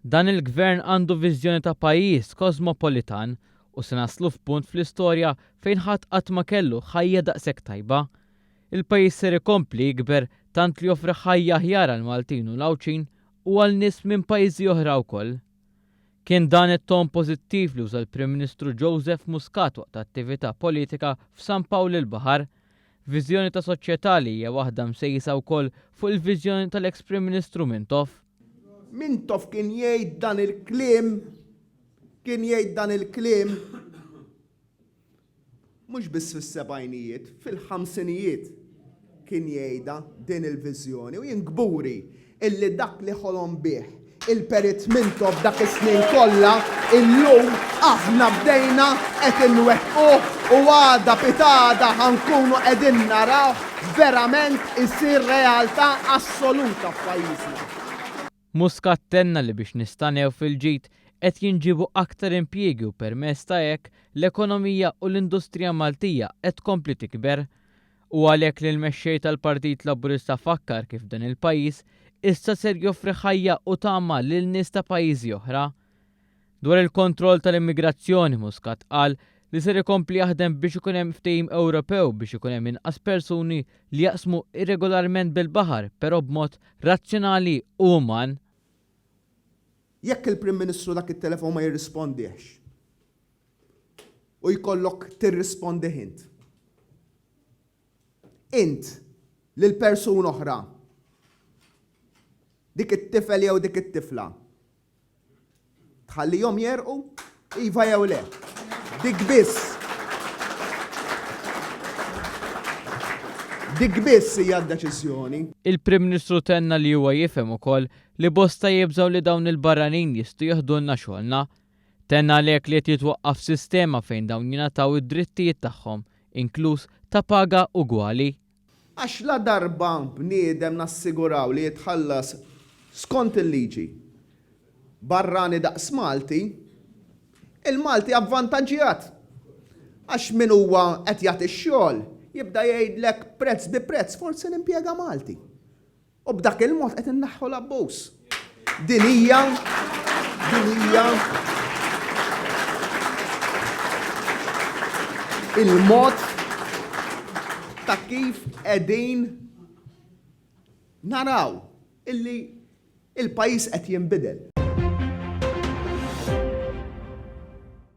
Dan il-Gvern għandu viżjoni ta' pajjiż kosmopolitan u se naslu f'punt fl-istorja fejn ħadd qatt ma kellu ħajja daqshekk tajba. Il-pajjiż ser ikompli jikber tant li joffri ħajja aħjar għall-Maltin u l-Għawdxin u għal nies minn pajjiżi oħra wkoll. Kien dan it-ton pożittiv li uża l-Prim Ministru Joseph Muscat waqt attività politika f'San Pawl il-Baħar. Viżjoni ta' soċjetà li hija waħda msejsa wkoll fuq il-viżjoni tal-eks Prim Ministru Mintoff. Mintoff kien jgħid dan il-kliem, kien jgħid dan il-kliem mhux biss fis-sebgħinijiet, fil-ħamsinijiet kien jgħidha din il-viżjoni u jien kburi illi dak li ħolom bih il-Perit Mintoff dak is-snin kollha, illum aħna bdejna qed inwettquh u għada pitgħada ħa nkunu qegħdin narawh verament isir realtà assoluta f'pajjiżna. Muscat tenna li biex nistagħnew fil-ġid qed jinġiebu aktar impjiegi u permezz ta' hekk l-ekonomija u l-industrija Maltija qed tkompli tikber. u għalhekk li l-Mexxej tal-Partit Laburista fakkar kif dan il-pajjiż issa ser joffri ħajja u tama lil nies ta' pajjiżi oħra. Dwar il-kontroll tal-immigrazzjoni, Muscat qal li ser ikompli jaħdem biex ikun hemm ftehim Ewropew biex ikun hemm inqas persuni li jaqsmu irregolarment bil-baħar però b'mod razzjonali u uman. Jekk il-Prim Ministru dak it-telefon ma jirrispondihx. u jkollok tirrispondih int. Int lil persuna oħra, dik it-tifel jew dik it-tifla, tħallihom jegħrqu? Iva jew le? Dik biss. Dik biss hija d-deċiżjoni. Il-Prim Ministru tenna li huwa jifhem ukoll li bosta jibżgħu li dawn il-barranin jistgħu jiħdulna xogħolna Tenna għalhekk li qed jitwaqqaf sistema fejn dawn jingħataw id-drittijiet tagħhom, inkluż ta' paga ugwali. Għax ladarba bniedem nassiguraw li jitħallas skont il-liġi, barrani daqs Malti, il-Malti avvantaġġjat. Għax min huwa qed jagħti x-xogħol jibda jgħidlek prezz bi prezz forsi nimpjega Malti. U b'dak il-mod qed inneħħu l-abbuż. Din hija din hija il-mod ta' kif qegħdin naraw illi il-pajjiż qed jinbidel.